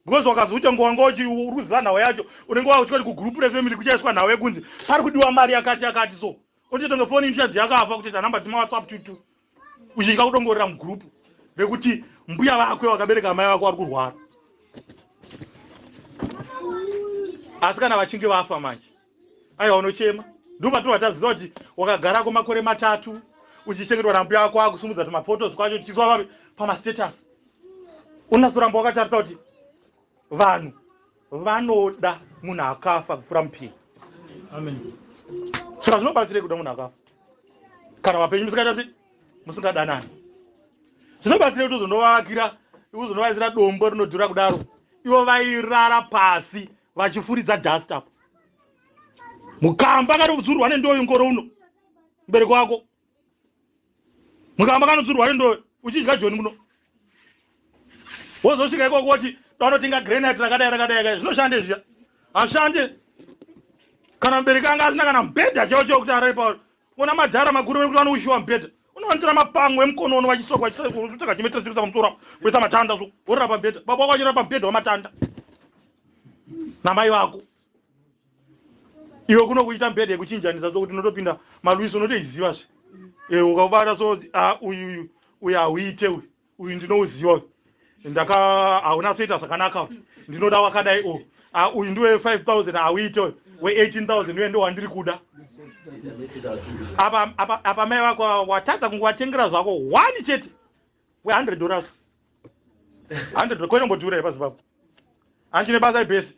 because wakazoita ngo wanga uchi uruziva nhau yacho unenge wakutyati kugroup refamily kuchaiswa nhau yekunzi pari kudiwa mari yakati yakati so Kuti tonge phone inchadzi yakafa kuti tanamba dzima WhatsApp tutu. Uchitya kudongorera mugroup vekuti mbuya vakwe vakabereka amai vako vari kurwara. Asi kana vachinge vafa manje. Aiwa unochema. Ndipo patobva taziva kuti wakagara ko makore matatu uchichengetwa nambuya vako akusumudza tuma photos kwacho tichizwa pama status. Unatsoramba wakatarisa kuti Vanhu vanoda munhu akafa kupfura mupenyu. Saka zvinobatsirei kuda munhu akafa kana vapenyu musikaita sei musingadanani? Zvinobatsirei kuti uzonovavakira uzonovaisira dombo rinodhura kudaro ivo vairara pasi vachifuridza dust apo mukamba kana kudzurwa nendoyo ngoro uno mbereko wako mukamba kanodzurwa ndo uchidya joni muno wozosvika ikoko woti danotenga granite rakadai rakadai kai zvinoshande zviya hashande kana mubereki anga asina kana mubhedha chao chao kuti arare pauri ona madhara makuru vekuti vanoushiwa mubhedha unowanitira mapango emukono ono vachisoko vachitsaka chimetesirisa pamusoro apo kuisa matanda so worira pamubhedha baba wako wachirira pamubhedha wamatanda namai vako iwe kuno kuita mbede yekuchinjanisa so kuti unotopinda malwisi unotoiziva zve e, ukabata so ah, uyu uyu uyu hauite uyu uyu ndinouziva uyu ndaka haunatsoita zvakanaka uyu ndinoda wakadai o ah, uyu ndiwe 5000 hauite uyu we18000 uye ndowandiri kuda apa mai vako watadza kunge watengera zvako one chete we100 dollars 100 kwete mbodhura ipasi papo hanchine basa ibhesi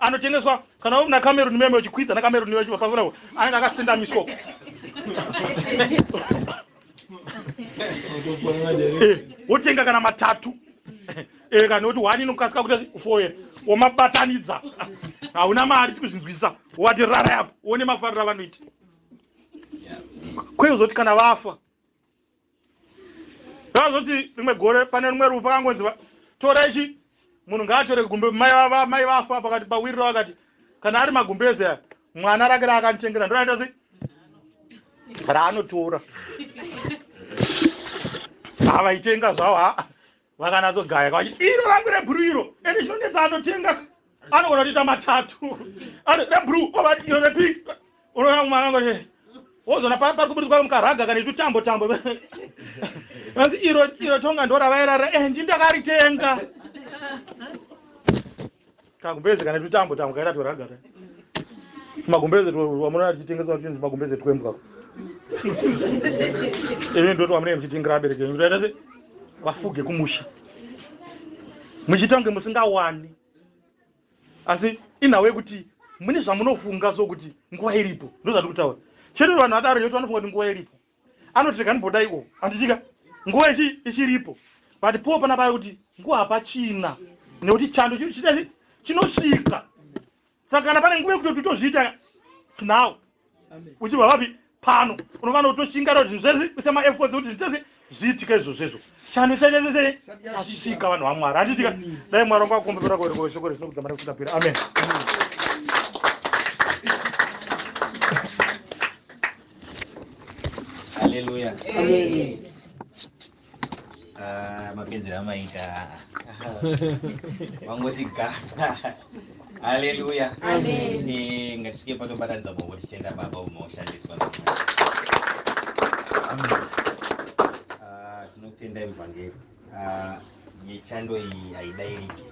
Anotengeswa kana uri na Cameroon meme uchikwidza na Cameroon wacho pafona uko anenge akasendamiswa uko. Eh, wotenga kana matatu. Eh, kana kuti wani inokasika kuti foye womabatanidza. Hauna mari tikuzvinzwisa. Wati rara yapo. Wone mafarira vanoita. Kweyo zoti kana vafa. zvazoti rimwe gore pane rumwe rufu akangonzi tora ichi munhu ngaatore gumbe mai vafa pakati pawirira vakati kana ari magumbeze aya mwana rake raakanditengera ndoraita sei raanotora havaitenga zvavo haa vakanatsogaya kavati iro rangu rebhuru iro ende chinonetsa anotenga anogona kutoita matatu ari rebhuru ovati iro repink unoona mwana wangu kuti wozoona pari kuburitswa mukaraga kana itutambo tambo anzi iro iro tonga ndoravairara endi eh, ndakaritenga kagumbeze kana tutambo tambo kaita tweragata tumagumbeze twamunoona tichitengeswa tuchinzi tumagumbeze twembwa ini ndo twamunenge muchitengera abereki enyu kutaita se vafuge kumusha muchiita kunge musingawani asi inhawo yekuti mune zvamunofunga so kuti nguva iripo ndo zvati kutaura chete vanhu vataro yoti vanofunga kuti nguva iripo anoti rega ndibodai o handitika nguva ichi ichiripo but po pana paya kuti nguva hapachina nekuti chando chitani chinosvika saka kana pane nguva yekuti totozviita now uchibva vapi pano unovana kutoshinga kuti zvese kuisa maefforts kuti zvese zviitike izvozvezvo chando chaisese chasvika vanhu vamwari handitika dai mwari wangu akumbira kuereko shoko resinokudza mari kusvikapera amen Hallelujah. Amen. Ah, mapenzi amaita vangoti ga haleluya Amen. Eh, ngatisvike patobatanidza boko tichienda baba umaoshandiswa Ah, tinokutendai muvhangeri Ah, yechando iyi haidairiki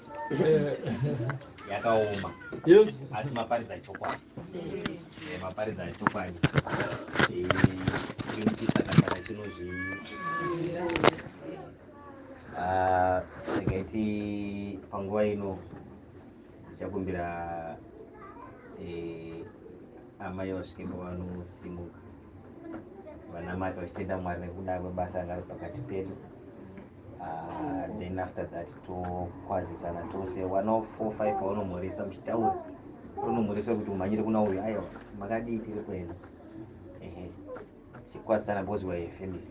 yakaoma Yes. asi maparidza chokwadi Eh, maparidza chokwadi Eh, chiri chisakasaka chinozvi Ah, ndingaiti panguva ino ndichakumbira eh, amai vasvike pavanosimuka vanamata vachitenda mwari nekuda kwebasa ranga riri pakati pedu ah, then after that tokwazisana tose one of four five vaunomhoresa muchitaura unomhoresa kuti umhanyire kuna uyu aiwa makadii tiri kuenda ehe chikwazisana because we are a family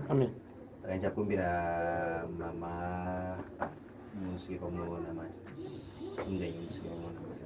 amen saka ndichakumbira mama musike pamunonamata indainyi musike pamunonamata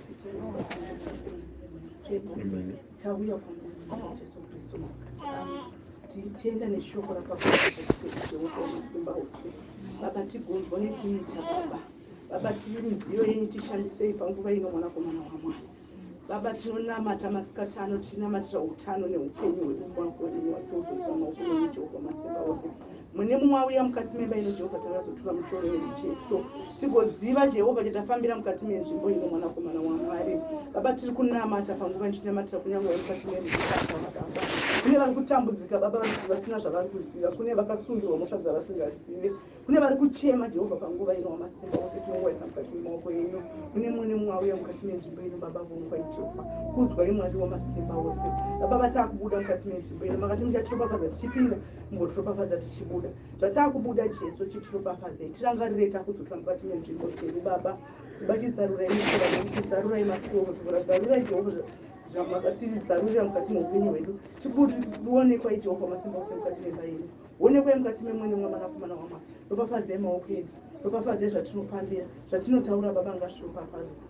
tichienda neshoko baba tigonzwa nekuita baba baba tiri midziyo yenyu tishandisei panguva ino mwanakomana wamwari baba tinonamata masikati ano tichinamatira utano neupenyu hwedu kwako ini watiudzosira maoko emujehovha masimba ose Mune mumwe auya mukati memba ino Jehovha tauya kuzotura mutoro werucheso tigoziva Jehovha chatafambira mukati menzvimbo ino mwanakomana waMwari. Baba tiri kunamata panguva ichinamatira kunyange vari mukati meruzivaakavakamba. Kune vari kutambudzika Baba vasina zvavari kuziva, kune vakasungirwa mhosva dzavasingazive, kune vari kuchema Jehovha panguva ino wamasimba ose tinongoisa mukati memaoko enyu. Mune mumwe nemumwe auya mukati menzvimbo ino Baba vonguva Jehovha kudzwa imwari wamasimba ose. Baba vatakubuda mukati menzvimbo ino makati muchatiropafadza tichipinda ngo tiropafadza tichibuda zvataakubuda jesu chitiropafadzei tirangarirei takudzokera mukati menzvimbo dzedu baba tibati zarurai mishora nekuti zarurai masioko zvivora zarurai jehovha zvamatizarurira mukati meupenyu hwedu tikuonekwa ijehovha masimba ose mukati memba yedu onekwai mukati memwene mwamanakomana wamwari ropafadzei maoko edu ropafadzei zvatinopambira zvatinotaura baba ngazviropafadzwa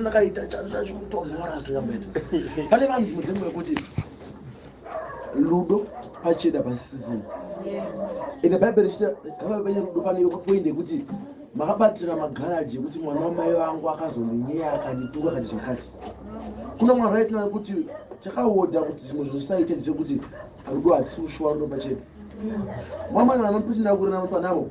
ndakaita chanzacho kutonhora asingamboita pane vanhu mudzimu wekuti ludo pachida pasisizini ende bhaibheri chita kavai vane rudo pane poindi yekuti makabatira magaraji ekuti mwana wamai vangu akazondinyeya akandituka kati zvakati kuna mwana aitona kuti chakaoda kuti zvimwe zvosaite ndechekuti rudo hatisi kushuwa rudo pacheda mwamai vanopinda kurena mupanavo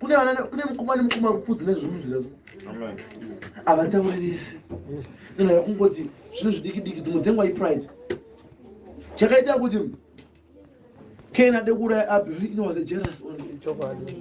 kune vana kune mukoma ne mukoma kupfudzi ne zvimunzira zvo ava tauririsi kana kungoti zvino zvidiki diki dzimwe dzengwa i pride chakaita kuti kena dekura abhi inowaze jealous on chokwadi